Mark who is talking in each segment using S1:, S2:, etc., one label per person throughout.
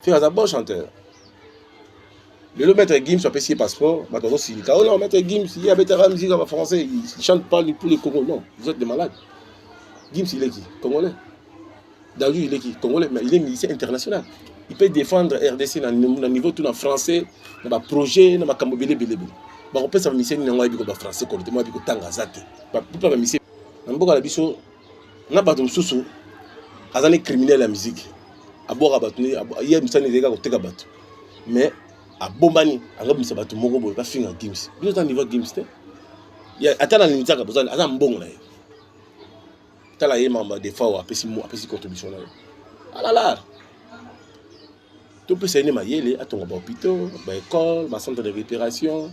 S1: Ferre aza bon chanteur. Lelo maître Gims apesi ye passeport, bato bazosilika. Oh non, maître Gims, ye abetaka musique ya français, il chante pas pour les Congolais. Non, vous êtes des malades. Gims, il est qui Congolais. Dadju, il est qui Congolais, mais il est musicien international. Il peut défendre RDC na, na niveau tout na français, na ba projet, na makambo bele bele bele. Bakopesa ba miseni na ngai biko ba français kolete, moi biko tanga zate. Ba pupa ba miseni. Na mboka na biso na bato mosusu aza ne criminel ya miziki abwaka bato ye misani ezali kaka koteka bato mais abombani azobimisa bato moko boye bafinga gims bino eza niveau gims te ata na linzaka boza aza mbongo na ye tala ye mamba defao apesi apesi contribution na ye alalar ah topesa ye nde mayele atonga bahôpitaux baécole bacentre de récupération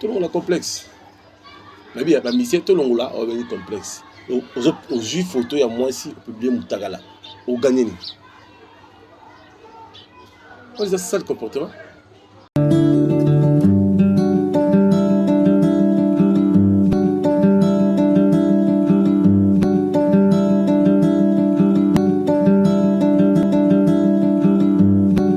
S1: tolongola complexe nayebi ya bamisie tolongola oyo bengi complexe ozwi foto ya mwasi opiblie motakala oganye nini oyo eza sale comportement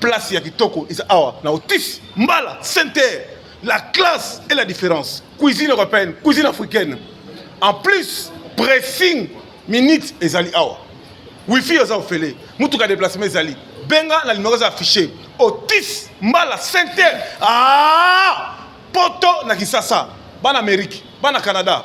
S2: Place ya kitoko eza awa na Otis Mbala Sainte-Terre. La classe et la différence. Cuisine européenne, cuisine africaine. En plus, pressing minutes ezali awa. Wifi eza ofele. Mutuka déplacement ezali. Benga na numéro eza affiché. Otis Mbala Sainte-Terre. Ah! Poto na Kisasa. Bana Amérique, bana Canada.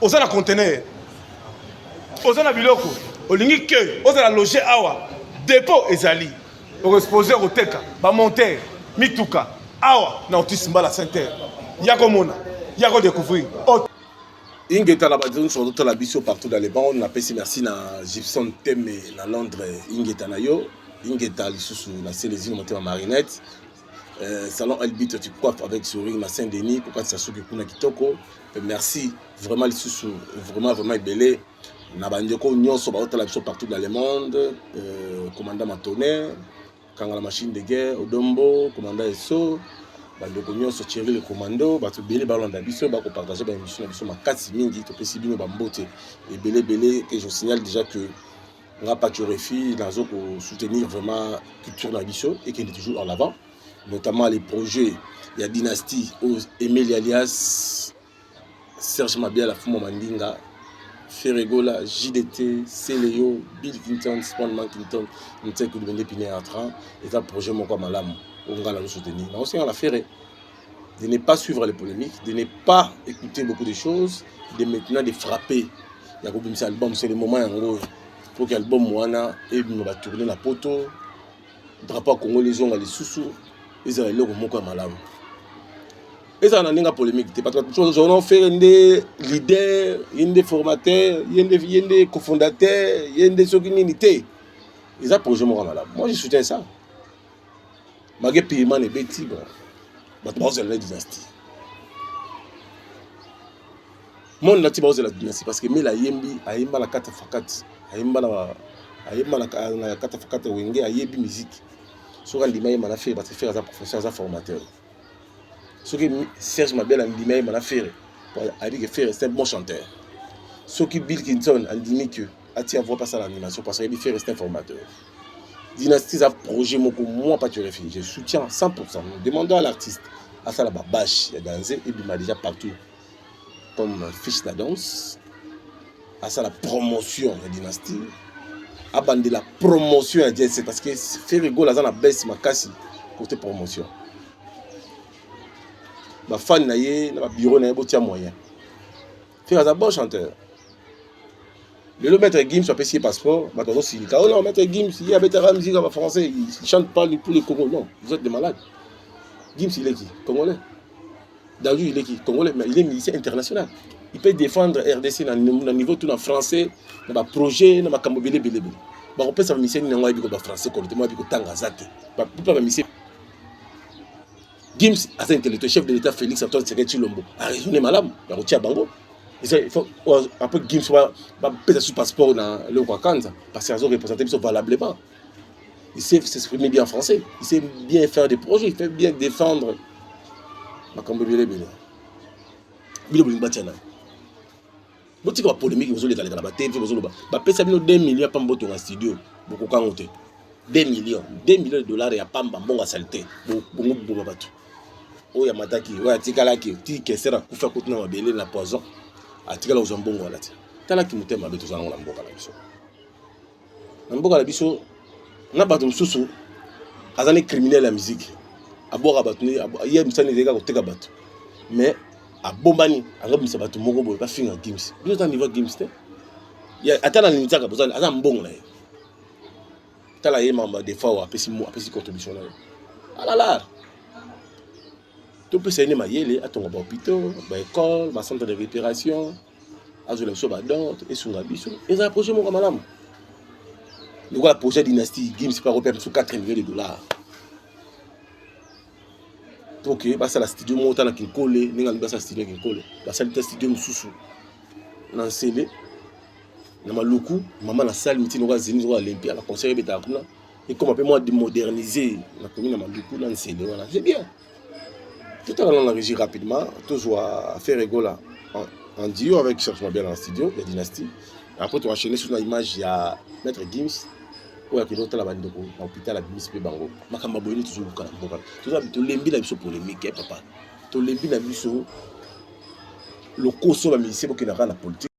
S2: oza na conteneur oza na biloko olingi ke ozala loge awa depot ezali okoexpose koteka bamontere mituka awa na otisi mbala center ya komona ya kodecouvrir
S1: ingeta na bato nyonso bazotala biso partout dans le monde napesi merci na gibson teme na londres ingeta na yo ingeta lisusu na selezino motema marinette euh, salon elbito tu coiffe avec sourire na saint denis kokatisa suki kuna kitoko merci vraiment lisusu vraiment vraiment ebele na bandeko nyonso baotala biso partout dans le monde euh, commandant matone kangala machine de guerre odombo commandant eso bandeko nyonso thierry le commando bato ebele balanda biso bakopartage baémission na biso makasi mingi topesi bino bambote ebele ebele et je signale déjà que nga pachorefi nazo kosoutenir vraiment culture na biso ekende toujours en avant notamment les projets ya dynastie oyo emeli alias serge mabiala fuma mandinga ferregola jdt celeo bill clinton spawn mankington ntekulubende pineatra eza projet moko ya malamu oyo ngai nazo soutenir nakosenga na ferre de ne pas suivre les polémiques de ne pas écouter beaucoup de choses de maintenant de frapper ya kobimisa album c'est le moment yango oyo mpo ke album wana ebima batourne na poto drapeau ya congo lizonga lisusu ezala eloko moko ya malamu ezala na ndenge ya polémique te bato bazonao fere nde leader ye nde formateur ye nde ye nde cofondateur ye nde soki nini te eza projet moko ya malamu moi je soutien ça mage payman ebeti bon bato bakozala na dynastie Mon lati baozela dynastie parce que mela ayembi ayemba na kata fakati ayemba na ayemba na kata fakati wenge ayebi musique soki andima yemba na fere parce que fere aza professeur aza formateur soki serge mabele andima yemba na fere ayebi ke fere c'est un bon chanteur soki bill kinson andimi ke atia voix pasala animation parce que ayebi fere c'est un formateur dynastie eza projet moko moi paturefi je soutiens 100 demandant à l'artiste asala babache ya danze ebima déjà partout comme fiche na danse asala promotion ya dynastie abandela promotion ya jc parce que ferigol aza na base makasi kote promotion bafani na ye na babiro na ye botia moyen fer aza bon chanteur lelo maître gims apesi ye passeport bato bazosilika o oh non maître gims ye abetaka musika ba français il chante pas pour le congo non vous êtes de malade gims ileki congolais Dadou il est qui Congolais, mais il est musicien international. Il peut défendre RDC na, na niveau tout na français, na ba projet, na makambo bele bele bele. Ba ko pesa musicien ni ngwa biko ba français ko temo biko tanga zate. Ba pupa ba musicien. Gims aza intellectuel chef de l'état Félix Antoine Tshisekedi Tshilombo. A raisonné malamu, ba ko tia bango. Il faut un peu Gims ba ba pesa sur passeport na le Kwakanza parce qu'ils ont représenté biso valablement. Il sait s'exprimer bien en français. Il sait bien faire des projets. Il fait bien défendre. makambo ebele ebele bino bolingi batya nani botika bapolémike bozolekaleka na batv bozoloba bapesa bino 2 million ya pamba botonga studio bokokango te 2 million 2 million de dollars ya pamba mbongo ya salite bongo boboma bato oyo amataki oyo atikalaki ti kesera kufa kutu na mabele na poison atikala kozwa mbongo wana te talaki motema mabe toza nango na mboka na biso na mboka na biso na bato mosusu aza ne criminel ya miziki abwaka bato ye misani ezalaki koteka bato mais abombani azobimisa bato moko boye bafinga gims biso eza niveau gims te ata na linzaka bozali aza mbongo na ye tala ye mamba defa oyo apesi apesi contribution na ye alala topesa ye nde mayele atonga bahopitaux baecole bacentre de récupération azwela biso bador esunga biso ezala projet moko malamu lokola projet dynastie gims mpe akopesa biso 4 million de dollars mpo ke basala studio moko ta na kinkole ndenge alingi basala studio ya kinkole basali ta studio mosusu na nsele na maluku mama nasali miti noko azini noko olympia na conseil ebetaka kuna ekoma mpe mwa modernise na komi na maluku na nsele wana c'est bien Tout à l'heure, on a régi rapidement. Tous à faire Egola en, en duo avec Serge Mabel en studio, la dynastie. Après, tu as enchaîné sur l'image, il y a Maître Gims. oyo akende kotala bandeko na hôpital abimisi mpe bango makambo boyini tozoluka na mboka tolembi na biso polémique ya eh, papa tolembi na biso lokoso bamisie bokendaka na politique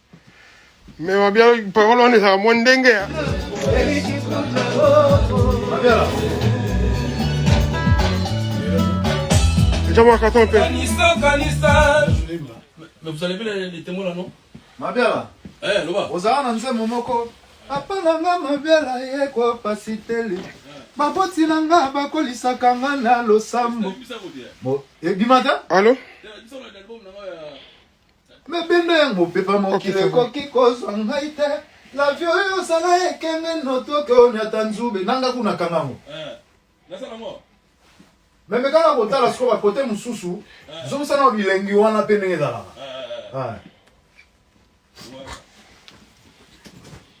S3: Mais ma bien parole on est à moins dingue. Hein. Déjà moi carton un peu. Kanisa kanisa.
S4: Mais vous allez bien les témoins là non Ma bien là. Eh
S5: loba.
S4: Ozana na nzembo moko.
S5: Papa na nga ma bien là ye ko pasiteli. baboti na nga bakolisaka nga na losambo ebima te alo mabenda ya mopepa mokili ekoki kozwa ngai te lavio oyo osala ekenge notoke oyo nyata nzube nanga kuna kanga yango eh, meme kaka kotala sikoyo bakote mosusu eh. zongisana wa bilengi wana mpe ndenge ezalaka eh,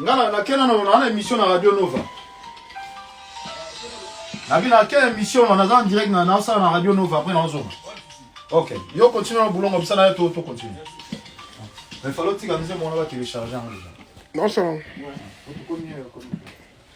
S5: nga na ke na na na emission na radio nova na ke na ke emission na naza en direct na na sala na radio nova après na zonga ok yo continue na bulongo bisa na to to continue mais fallait tika mzee mwana ba télécharger en déjà non ça va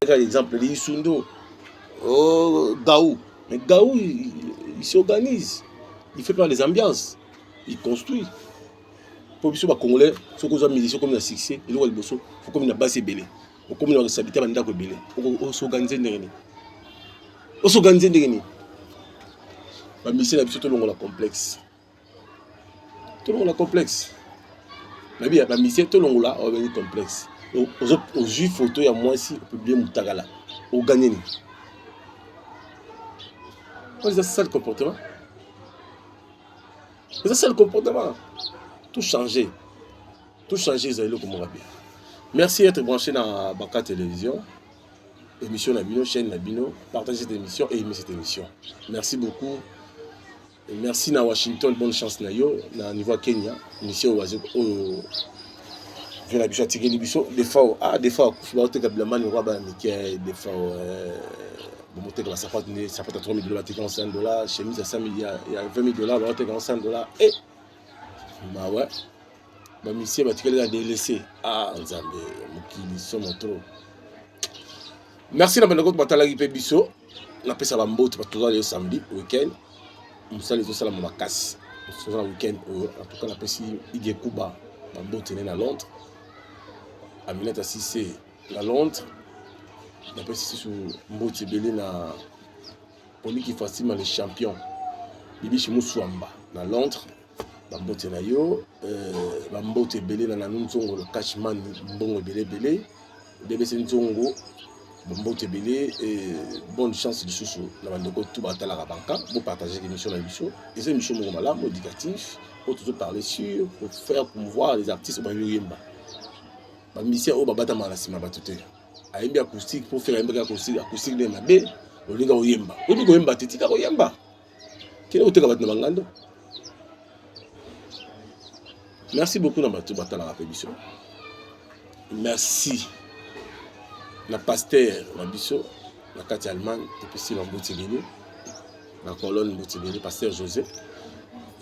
S6: Par exemple, les Isundo,
S1: oh, Gaou. Mais Gaou, il, il s'organise. Il fait pas les ambiances. Il construit. Pour biso bakongolais soki ozwa musicien okomi na succès eloko ya liboso okomi na basi ebele okomi na responsabilité ya bandako ebele osorganize ndenge nini osorganize ndenge nini bamisien na biso tolongola complexe tolongola complexe nayebi ya bamisie tolongola obengi complexe ozwi foto ya mwasi opiblie motakala oganye nini eza sale comportement eza sale comportement tout change tout change eza eloko moko bien merci être branché na baka télévision émission na bino chaîne na bino partage cette émission et aimez cette émission merci beaucoup Merci na Washington, bonne chance na yo na niveau ya Kenya. Mission oyo azo oyo vena biso atikeli biso defao ah defao akufi baoteka bilamani lokola bana mike defao bomotekela sapatu nde sapatu ya 3 mille dollars atekaka 5 dollars chemise ya 5 mille ya 20 mille dollars baotekaka 5 dollars e mawa bamisie batikeli na delese ah nzambe mokili somo trop merci na bandeko batalaki mpe biso napesa bambote bato toza lelo samedi weekend mosala ezosalama makasi toza na weekend oyo en tout cas napesi idie kuba bambote ne na londres aminata sise na londres napesi susu mboti ebele na poliki fatima le champion bibishi musuamba na londres bambote na yo euh, bambote ebele na nanu nzongo le cashman mbongo ebele ebele bbc nzongo bambote ebele euh, bonne chance lisusu na bandeko tu batalaka banka bopartage émission na biso eza émission moko malamu éducatif oyo tozoparle sur pour faire promouvoir les artistes bayoyemba bamisien oyo babatamaka na nsima bato te ayembi acoustique mpo fela ayembaki acoustique acoustique nde mabe olinga oyemba oyebi koyemba te tika koyemba kende koteka bato na bangando merci beaucoup na bato batalaka mpe biso merci na pasteur na biso na kati ya allemagne epesi na mbuti bini na colonne mbuti bini pasteur josé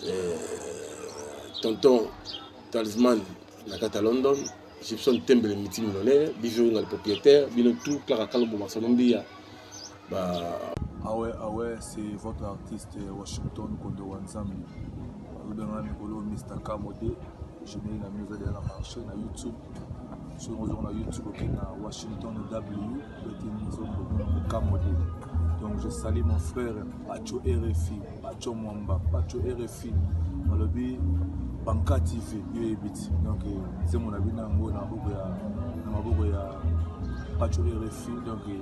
S1: euh, tonton talisman na kati ya london gibson tembele miti millionnaire bijounga le propriétaire bino tout clara kalombo masalombiya
S7: Bah. Ah ouais, ah ouais, c'est votre artiste euh, Washington Kondo Wanzambi. Alobengana mikolo Mr. Kamode, je n'ai la musique de la marché na YouTube. Sur nous na YouTube ok na Washington W, petit Nzombo Kamode. Donc je salue mon frère Pacho RFI, Pacho Mwamba, Pacho RFI. Malobi Banka TV, yo ebiti. Donc c'est euh, mon abina ngo na maboko ya na maboko ya Pacho RFI. Donc euh,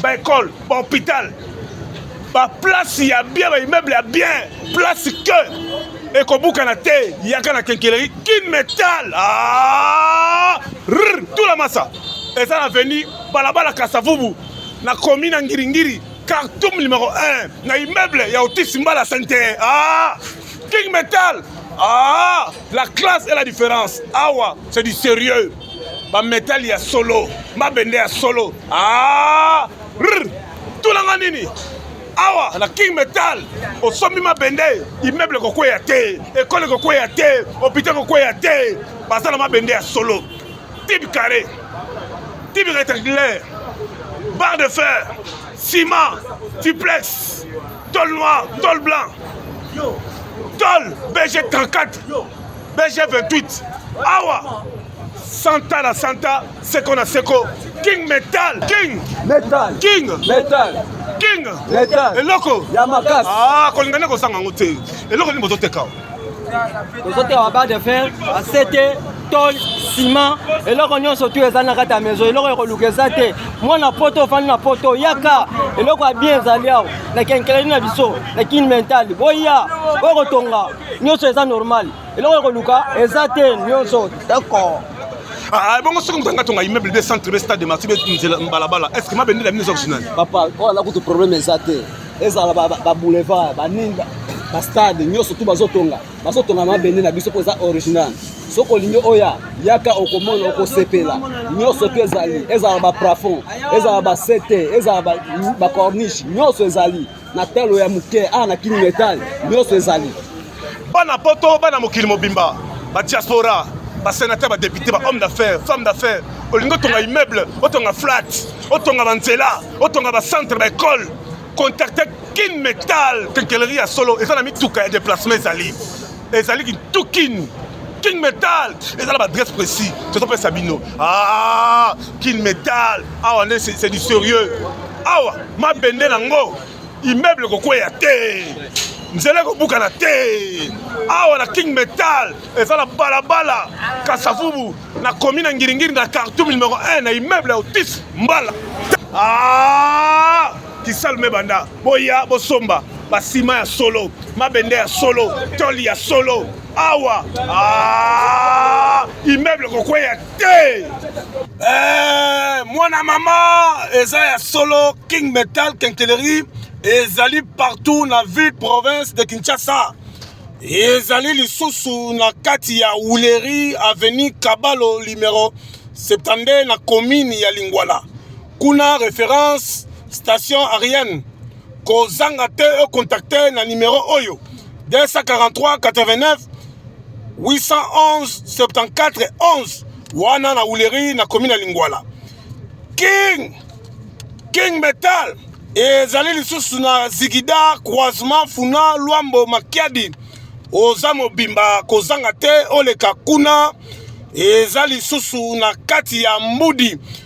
S2: ba école ba hôpital ba place ya bien ba immeuble ya bien place que ekobukana te yaka na kenkeleri kin metal ah! tula masa eza na veni balabala kasavubu na komi na ngiringiri cartum numero 1 na immeuble ya otis mbala sente ah! king metal ah! la classe et la différence awa c'est du sérieux ba metal ya solo mabende ya solo ah, tulanga nini awa na king metal osombi mabende immeuble kokweya te ekole kokweya te hôpital kokweya te baza na mabende ya solo tibe carré tibe rectangulaire barre de fer ciment duplex tol noir tol blanc tol bg 34 BG 28 awa Santa la Santa, Seko na Seko, King Metal, King Metal, King
S8: Metal, King
S2: Metal, eloko
S8: ya makasi.
S2: Ah,
S8: kolingana kosanga
S2: yango te. Eloko nini bozoteka?
S8: Bozoteka ba barre de fer, ba sete, tol, ciment, eloko nyonso tu eza na kati ya maison, eloko ya koluka eza te. Mwana poto ofandi na poto, yaka eloko ya bien ezali awa na kenkeleli na biso na King Metal, boya okotonga nyonso eza normal eloko ya koluka eza te nyonso d'accord ah, ah, bongo
S2: soki moto anga tonga immeuble 200 trebe stade de marti nzela mbalabala est ce que mabende la mine eza kusinani papa oyo ala kutu
S8: problème eza te ezala baboulevard banini bastade nyonso tu bazotonga bazotonga mabende na biso mpo eza original soki olingi oya yaka okomona okosepela nyonso tu ezali ezala baplafond ezala basete ezala bacorniche nyonso ezali na talo ya moke awa na kini metal nyonso ezali bana poto
S2: bana mokili mobimba ba diaspora ba sénateur ba député ba homme d'affaires femme d'affaires olingi otonga immeuble otonga flat otonga banzela otonga bacentre baekole contacte kin metal kenkeleri ya solo eza na mituka ya déplacement ezali ezali kintu kin king metal eza na baadresse précis tozopesa bino ah, king metal awa nde c'est du sérieux awa mabende na ngo immeuble kokweya te nzela ekobukana te awa na king metal eza na balabala kasavubu na komi na ngiringiri na cartoum numero 1 na immeuble ya otis mbala ah! kisalu mebanda boya bosomba basima ya solo mabende ya solo toli ya solo awa ah, immeuble kokweya te eh, mwana mama eza ya solo king metal kenkeleri ezali partout na ville province de kinshasa ezali lisusu na kati ya wuleri avenue kabalo numero 72 na commune ya lingwala kuna reference station arienne kozanga te ocontacte na numero oyo 243 89 811 74 11 wana na huleri na komi na lingwala king king metal ezali lisusu na zigida croisement funa lwambo makiadi oza mobimba kozanga te oleka kuna eza lisusu na kati ya mbudi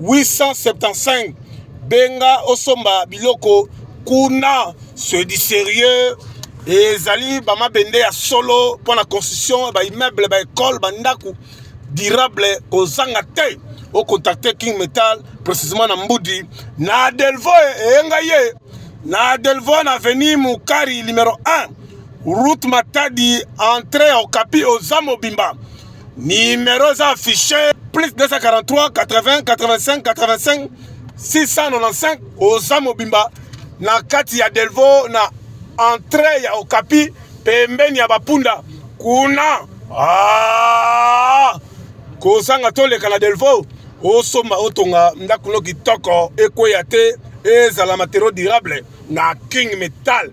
S2: 875 benga osomba biloko kuna c'est du sérieux ezali bamabende ya solo mpo na construction baimmeuble baekole bandako durable kozanga te ocontacte king metal précisement na mbudi na delvo eyenga ye na Delvon Avenue Mukari numero 1 route Matadi entrée au Capi oza mobimba numero eza affiché plus 243 80 85 85 695 oza mobimba na kati ya Delvaux na entrée ya Okapi pembeni ya bapunda kuna ah! kozanga toleka na Delvaux
S1: osomba otonga ndako no kitoko ekweya te ezala matériau durable na king metal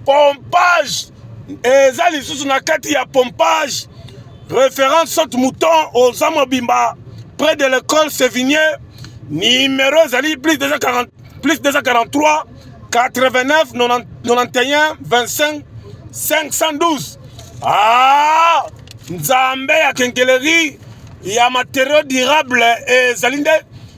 S1: pompage eza lisusu na kati ya pompage référence saute mouton oza mobimba près de l'école sévigné numéro ezali plus 240 plus 243 89 91 25 512 ah nzambe ya kenkeleri ya matériau durable ezali nde